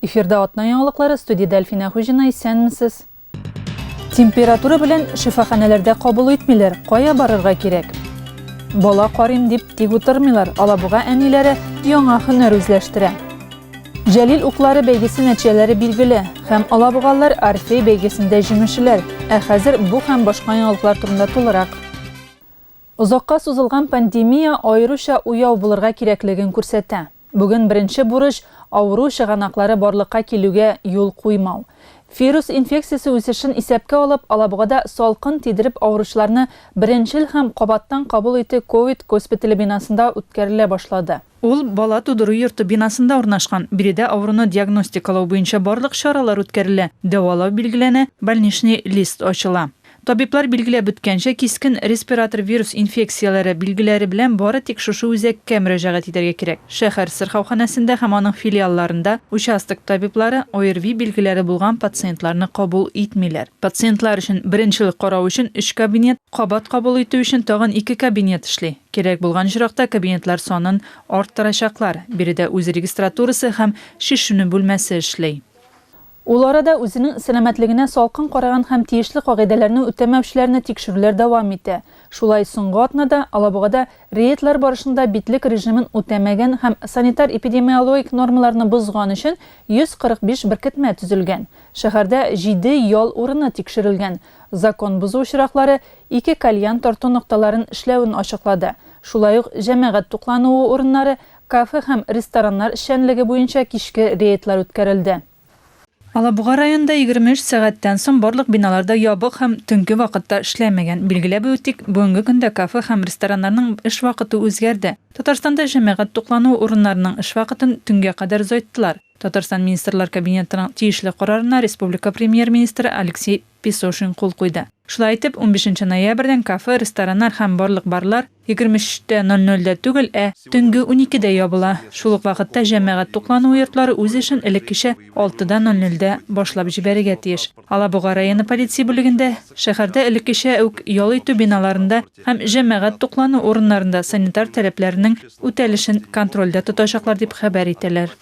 Эфирда атна яңалыклары студиядә Әлфинә Хуҗина исәнмесез. Температура белән шифаханәләрдә кабул итмиләр. Кая барырга кирәк? Бала карыйм дип тик утырмыйлар. Алабуга әниләре яңа һөнәр үзләштерә. Җәлил уклары бәйгесе нәтиҗәләре билгеле. Һәм алабугаллар Орфей бәйгесендә җиңүчеләр. Ә хәзер бу һәм башка яңалыклар турында тулырак. Озакка сузылган пандемия аеруча уяу булырга кирәклеген күрсәтә. Бүген беренче бурыч, авыру чыганаклары барлыкка килүгә юл куймау. Вирус инфекциясе үсешен исәпкә алып, Алабугада салкын тидереп авыручыларны беренчел һәм кабаттан кабул итү ковид госпитале бинасында үткәрелә башлады. Ул бала тудыру йорты бинасында урнашкан. Биредә авыруны диагностикалау буенча барлык чаралар үткәрелә, дәвалау билгеләнә, больничный лист ачыла. Табиблар билгеләп үткәнчә, кискен респиратор вирус инфекцияләре билгеләре белән бары тик шушы үзәккә мөрәҗәгать итәргә кирәк. Шәһәр сырхауханәсендә һәм аның филиалларында участок табиблары ОРВИ билгеләре булган пациентларны кабул итмиләр. Пациентлар өчен беренчел карау өчен өч кабинет, кабат кабул итү өчен тагын ике кабинет эшли. Кирәк булган очракта кабинетлар санын арттырачаклар, биредә үз регистратурасы һәм шешенү бүлмәсе эшли. Ул арада үзенең сәламәтлегенә салкын караган һәм тиешле кагыйдәләрне үтәмәүчеләрне тикшерүләр дәвам итә. Шулай соңгы атнада Алабугада рейдлар барышында битлек режимын үтәмәгән һәм санитар-эпидемиологик нормаларны бозган өчен 145 беркетмә төзелгән. Шәһәрдә җиде ял урыны тикшерелгән. Закон бозу очраклары ике кальян тарту нокталарын эшләвен ачыклады. Шулай ук җәмәгать туклануы урыннары, кафе һәм рестораннар эшчәнлеге буенча кичке рейдлар үткәрелде. Алабуга районында егерме өч сәгатьтән соң барлык биналар да ябык һәм төнге вакытта эшләмәгән. Билгеләп үтик, бүгенге көндә кафе һәм рестораннарның эш вакыты үзгәрде. Татарстанда җәмәгать туклануы урыннарының эш вакытын төнгә кадәр озайттылар. Татарстан Министрлар Кабинетының тиешле карарына республика Премьер-министры Алексей Песошин кул куйды. Шулай итеп, унбишенче ноябрьдән кафе, рестораннар һәм барлык барлар егерме өч тә ноль нольдә түгел, ә төнге уникедә ябыла. Шул ук вакытта җәмәгать туклануы йортлары үз эшен элеккечә алты да ноль нольдә башлап җибәрергә тиеш. Алабуга районы полиция бүлегендә, шәһәрдә элеккечә үк ял итү биналарында һәм җәмәгать туклану урыннарында санитар таләпләренең үтәлешен контрольдә тотачаклар, дип хәбәр итәләр.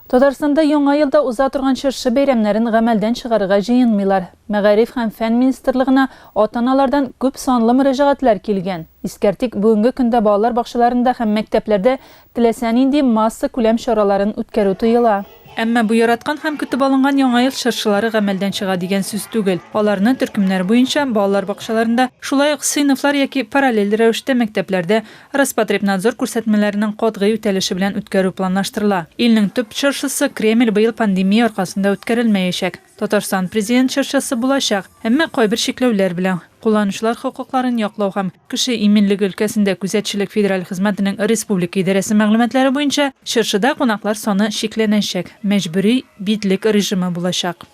Татарстанда Яңа елда уза торган чыршы бәйрәмнәрен гамәлдән чыгарырга җыенмыйлар. Мәгариф һәм фән министрлыгына ата-аналардан күп санлы мөрәҗәгатьләр килгән. Искәртик, бүгенге көндә балалар бакчаларында һәм мәктәпләрдә Теләсә нинди массакүләм чараларын үткәрү тыела. Әмма бу яраткан һәм көтеп алынган Яңа ел чыршылары гамәлдән чыга дигән сүз түгел. Аларны төркемнәр буенча, балалар бакчаларында, шулай ук сыйныфлар яки параллель рәвештә мәктәпләрдә Роспотребнадзор күрсәтмәләренең катгый үтәлеше белән үткәрү планлаштырыла. Илнең төп чыршысы, Кремль, быел пандемия аркасында үткәрелмәячәк. Татарстан Президент чыршысы булачак, әмма кайбер чикләүләр белән, кулланучылар хокукларын яклау һәм Кеше иминлеге өлкәсендә күзәтчелек федераль хезмәтенең республика идарәсе мәгълүматлары буенча, чыршыда кунаклар саны чикләнәчәк, мәҗбүри битлек режимы булачак.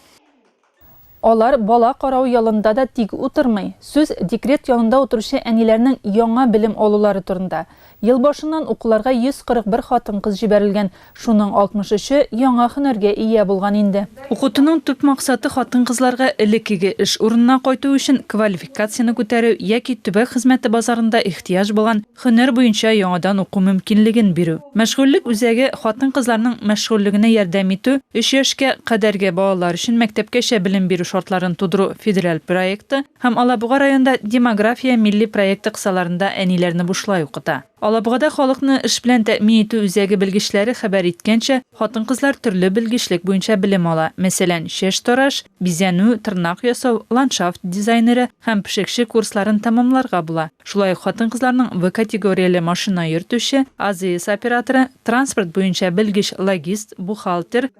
Алар бала карау ялында да тик утырмый. Сүз декрет ялында утыручы әниләрнең яңа белем алулары турында. Ел башыннан укуларга 141 хатын-кыз җибәрелгән, шуның 63-е яңа һөнәргә ия булган инде. Укытуның төп максаты хатын-кызларга элеккеге эш урынына кайту өчен квалификацияне күтәрү яки төбәк хезмәте базарында ихтыяҗ булган һөнәр буенча яңадан уку мөмкинлеген бирү. Мәшгульлек үзәге хатын-кызларның мәшгульлегенә ярдәм итү, өч яшькә кадәрге балалар өчен мәктәпкәчә белем бирү шартларын тудыру федераль проекты, Һәм Алабуга районында Демография милли проекты кысаларында әниләрне бушлай укыта. Алабугада халыкны эш белән тәэмин итү үзәге белгечләре хәбәр иткәнчә, хатын-кызлар төрле белгечлек буенча белем ала, мәсәлән, чәч тараш, бизәнү, тырнак ясау, ландшафт дизайнеры һәм пешекче курсларын тәмамларга була. Шулай ук хатын-кызларның В категорияле машина йөртүче, АЗС операторы, транспорт буенча белгеч-логист, бухгалтер,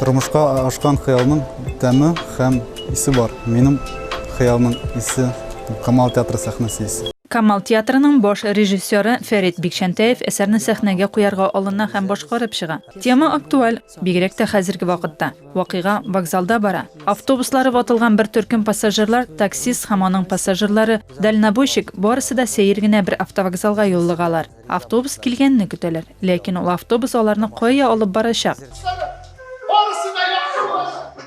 Тормышка ашкан хыялның тәме һәм исе бар. Минем хыялның исе Камал театры сәхнәсе исе. Камал театрының баш режиссеры Фәрит Бикчәнтәев әсәрне сәхнәгә куярга алына һәм башкарып чыга. Тема актуаль, бигрәк тә хәзерге вакытта. Вакыйга вокзалда бара. Автобуслары ватылган бер төркем пассажирлар, таксист һәм аның пассажирлары, дальнобойщик, барысы да сәер генә бер автовокзалга юллыгалар. Автобус килгәнне көтәләр. Ләкин ул автобус аларны кая алып барачак?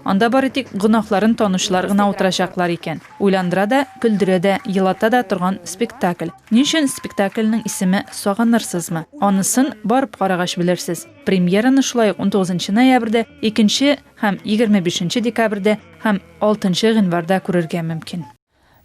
Анда бары тик гөнаһларын танучылар гына утырачаклар икән. Уйландыра да, көлдерә дә, елата да торган спектакль. Ни өчен спектакльнең исеме Сагынырсызмы? Анысын барып карагач белерсез. Премьераны шулай ук 19 ноябрьдә, 2 нче һәм 25 нче декабрьдә һәм 6 нчы гыйнварда күрергә мөмкин.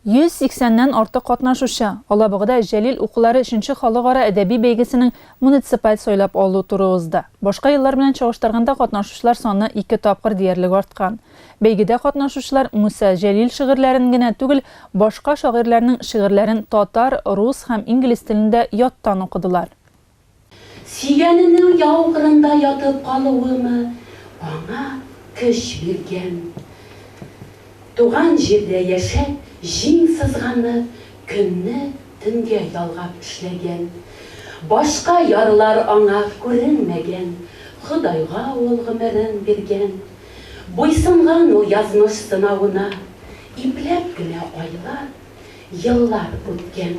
180 нән артык катнашучы, Алабугада Җәлил укулары өченче халыкара әдәби бәйгесенең муниципаль сайлап алу туры узды. Башка еллар белән чагыштырганда катнашучылар саны ике тапкыр диярлек арткан. Бәйгедә катнашучылар Муса Җәлил шигырьләрен генә түгел, башка шагыйрьләрнең шигырьләрен татар, рус һәм инглиз телендә яттан укыдылар. Сөйгәненең яу кырында ятып калуымы аңа көч биргән? Туган җирдә яшәп, җиң сызганып, көнне төнгә ялгап эшләгән. Башка ярлар аңа күренмәгән, Ходайга ул гомерен биргән. Буйсынган ул язмыш сынавына, Ипләп кенә айлар, еллар үткән.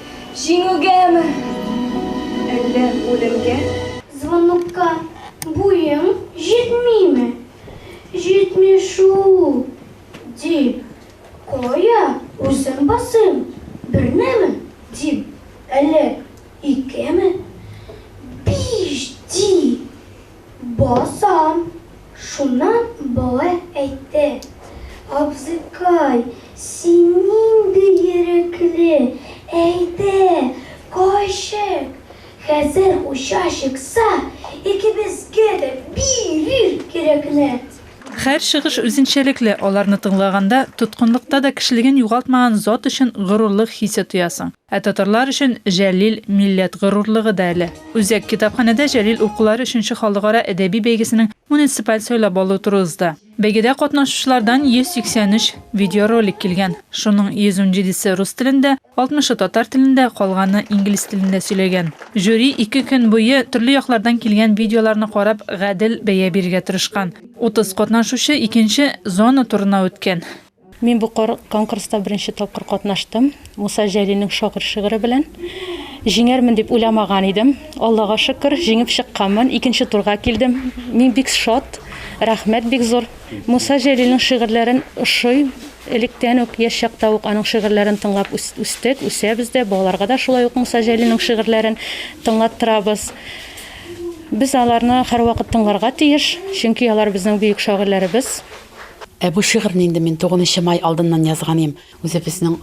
Җиңүгәме, әллә үлемгә? Звонокка буең җитмиме? Җитми шул, дим. Кая үзем басыйм, бернеме, дим, әллә икеме? Биш, ди. Басам, шуннан болай әйтте, Абзыкай, син нинди ирекле, әйдә, кайчык, хәзер уча чыкса, икебезгә дә бирер кирәкләр. Хәр чыгыш үзенчәлекле, аларны тыңлаганда, тоткынлыкта да кешелеген югалтмаган зат өчен горурлык хисе тоясың. Ә татарлар өчен Җәлил, милләт горурлыгы да әле. Үзәк китапханәдә Җәлил укулары өченче халыкара әдәби бәйгесенең муниципаль сайлап алу туры узды. Бәйгедә катнашучылардан 183 видеоролик килгән. Шуның 117 се рус телендә, 60 ы татар телендә, калганы инглиз телендә сөйләгән. Жюри ике көн буе төрле яклардан килгән видеоларны карап, гадел бәя бирергә тырышкан. 30 катнашучы икенче зона турына үткән. Мин бу конкурста беренче тапкыр катнаштым. Муса Җәлилнең Шагыйрь шигыре белән. Җиңәрмен дип уйламаган идем. Аллага шөкер, җиңеп чыкканмын. Икенче турга килдем. Мин бик шат. Рәхмәт бик зур. Муса Җәлилнең шигырьләрен ошыйм. Электән үк, яшь чакта ук аның шигырьләрен тыңлап үстек, үсәбез дә. Балаларга да шулай ук Муса Җәлилнең шигырьләрен тыңлаттырабыз. Без аларны һәрвакыт тыңларга тиеш, чөнки алар безнең бөек шагыйрьләребез. Ә бу шигырьне инде мин тугунынчы май алдыннан язганым. Үзебезнең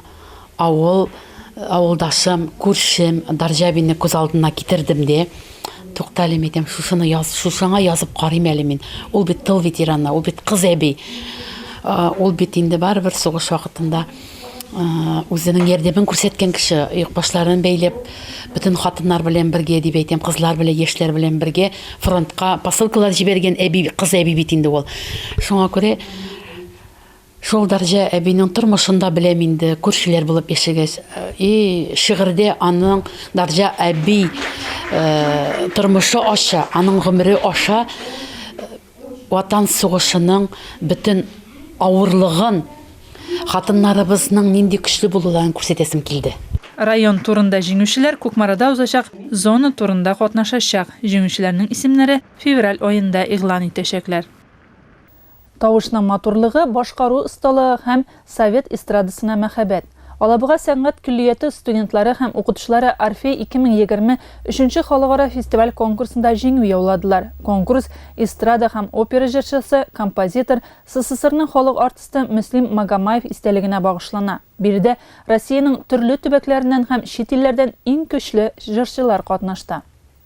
авыл, авылдашым, күршем Дарҗабинны күз алдына китердем де, Туктале, мәйтәм, шушыны яз, шушыңа язып карыйм әле мин. Ул бит тыл ветераны, ул бит кыз әби. Ул бит инде барыбер сугыш вакытында. Үзенең ярдәмен күрсәткән кеше, оекбашларын бәйләп, бөтен хатыннар белән бергә дип әйтәм, кызлар белән, яшьләр белән бергә фронтка посылкалар җибәргән әби, кыз әби бит инде ул. Шуңа күрә шул Дарҗа әбинең тормышын да беләм инде, күршеләр булып яшәгәч. И, шигырьдә аның Дарҗа әби тормышы аша, аның гомере аша Ватан сугышының бөтен авырлыгын, хатыннарыбызның нинди көчле булуларын күрсәтәсем килде. Район турында җиңүчеләр Кукмарада узачак Зона турында катнашачак, җиңүчеләрнең исемнәре февраль аенда игълан итәчәкләр. Тавышның матурлыгы, башкару осталыгы һәм Совет эстрадасына мәхәббәт. Алабуга сәнгать көллияте студентлары һәм укытучылары Орфей 2020 өченче халыкара фестиваль-конкурсында җиңү яуладылар. Конкурс эстрада һәм опера җырчысы, композитор, СССРның халык артисты Мөслим Магомаев истәлегенә багышлана. Биредә Россиянең төрле төбәкләреннән һәм чит илләрдән иң көчле җырчылар катнашты.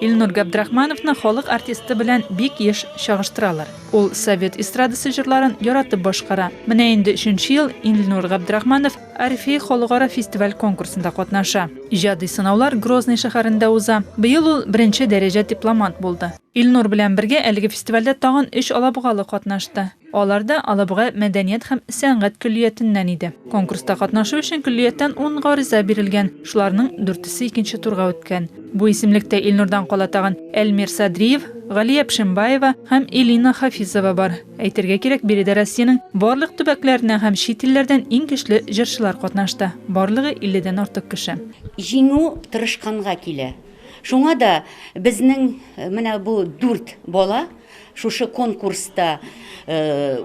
Илнур Габдрахмановны халык артисты белән бик еш чагыштыралар. Ул совет эстрадасы җырларын яратып башкара. Менә инде өченче ел Илнур Габдрахманов Орфей халыкара фестиваль-конкурсында катнаша. Иҗади сынаулар Грозный шәһәрендә уза. Быел ул беренче дәрәҗә дипломант булды. Илнур белән бергә әлеге фестивальдә тагын өч алабугалы катнашты. Алар да Алабуга мәдәният һәм сәнгать көллиятеннән иде. Конкурста катнашу өчен көллияттән ун гариза бирелгән, шуларның дүртесе икенче турга үткән. Бу исемлектә Илнурдан кала тагын Әлмир Садриев, Галия Пшембаева һәм Элина Хафизова бар. Әйтергә кирәк, биредә Россиянең барлык төбәкләреннән һәм чит илләрдән иң көчле җырчылар катнашты, барлыгы 50 дән артык кеше. Җиңү тырышканга килә. Шуңа да безнең менә бу дүрт бала, Шушы конкурста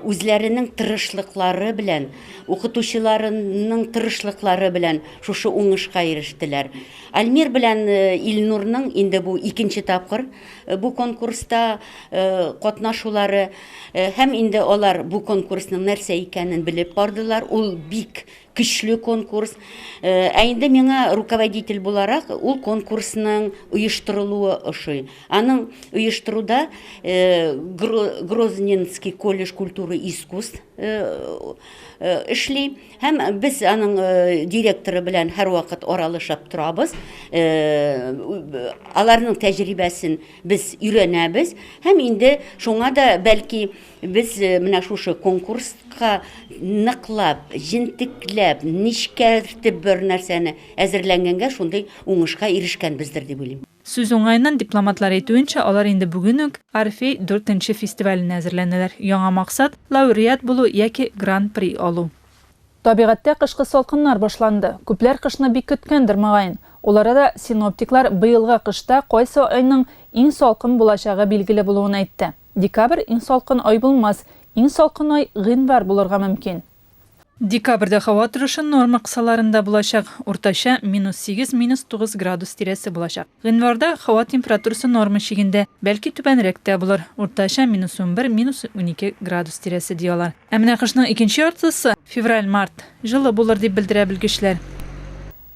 үзләренең тырышлыклары белән, укытучыларының тырышлыклары белән шушы уңышка ирештеләр. Альмир белән Илнурның инде бу икенче тапкыр бу конкурста катнашулары. Һәм инде алар бу конкурсның нәрсә икәнен белеп бардылар. Ул бик Көчле конкурс. Ә инде миңа руководитель буларак ул конкурсның оештырылуы ошый. Аның оештыруда Грозненский колледж культуры искусств эшли. Һәм без аның директоры белән һәрвакыт аралашып торабыз. Аларның тәҗрибәсен без өйрәнәбез. Һәм инде шуңа да бәлки Без менә шушы конкурска ныклап, җентекләп, нечкәртеп бер нәрсәне әзерләнгәнгә шундый уңышка ирешкәнбездер дип уйлыйм. Сүз уңаеннан, дипломатлар әйтүенчә, алар инде бүген үк Орфей дүртенче фестиваленә әзерләнәләр. Яңа максат, лауреат булу яки Гран-при алу. Табигатьтә кышкы салкыннар башланды. Күпләр кышны бик көткәндер, мөгаен. Ул арада синоптиклар быелгы кышта кайсы айның иң салкын булачагы билгеле булуын әйтте. Декабрь иң салкын ай булмас, иң салкын ай гыйнвар булырга мөмкин. Декабрьдә һава торышы норма кысаларында булачак, уртача минус сигез, минус тугыз градус тирәсе булачак. Гыйнварда һава температурасы норма чигендә, бәлки түбәнрәк тә булыр, уртача минус унбер, минус унике градус тирәсе, ди алар. Ә менә кышның икенче яртысы, февраль-март, җылы булыр, дип белдерә белгечләр.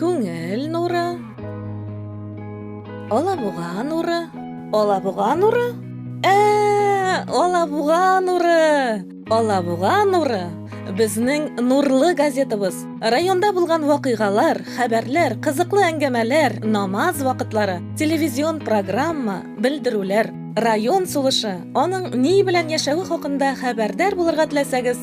Күңел нуры. Алабуга нуры. Алабуга нуры? Ә, Алабуга нуры! Алабуга нуры! Безнең нурлы газетабыз. Районда булган вакыйгалар, хәбәрләр, кызыклы әңгәмәләр, намаз вакытлары, телевизион программа, белдерүләр. Район сулышы, аның ни белән яшәве хакында хәбәрдар булырга теләсәгез,